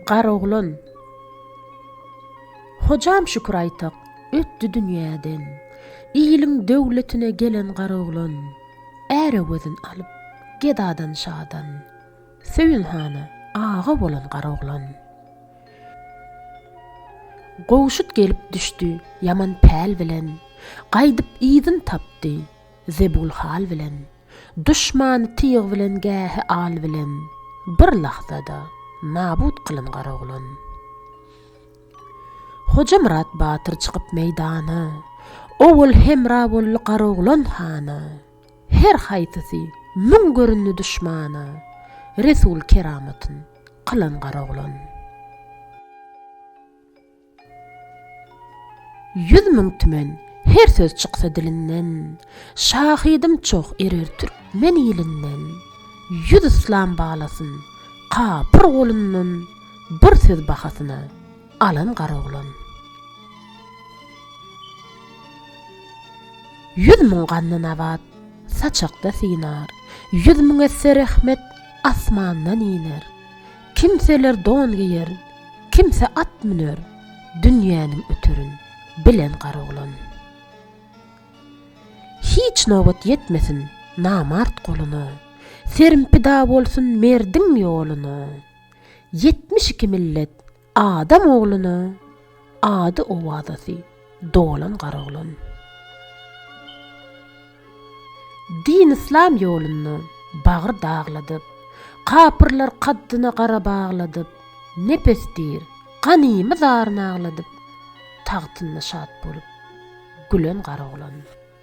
Garoglan. Hojam Şükür Aýtak ötdi dünýäden. Iliň döwletine gelen Garoglan. Ärewezin alyp, gedadan şadan. Söýün hana aga bolan Garoglan. Gowşut gelip düşdi ýaman päl bilen. Gaýdyp yzyn tapdy. Zebul hal bilen. Duşmany tyg bilen gähi al bilen, Bir lahzada nabut kylyn Garaglan. Hojamyrat batyr çykyp meýdana, Owal hemra boldy Garaglan hana. Her haýsysy müň göründi duşmana, Resul keramatyn kylyn Garaglan. Ýüz müň tümen, her söz çyksa dilinden, Şahydym çoh erer türkmen ilinden. Ýüz yslam balasyn, kapyr golundan, Bir söz bahasyna, alan garoglan. Ýüz müň ganly nabat, saçakda synar, Ýüz müň esse rehmet, asmandan iner. Kimseler don geýer, kimse at müner, dünýäniň öterin, bilen gar oglan. Hiç nobat ýetmesin namart goluna, serim pida bolsun merdiň ýoluna, ýetmiş iki millet adam ogluna. Ady owazasy dolan garoglan. Din-yslam ýolunda bagry dagladyp, Kapyrlar kaddyna gara bagladyp, Nepes diýr, ganymy zaryn agladyp, Tagtynda şat bolup, gülen garoglan.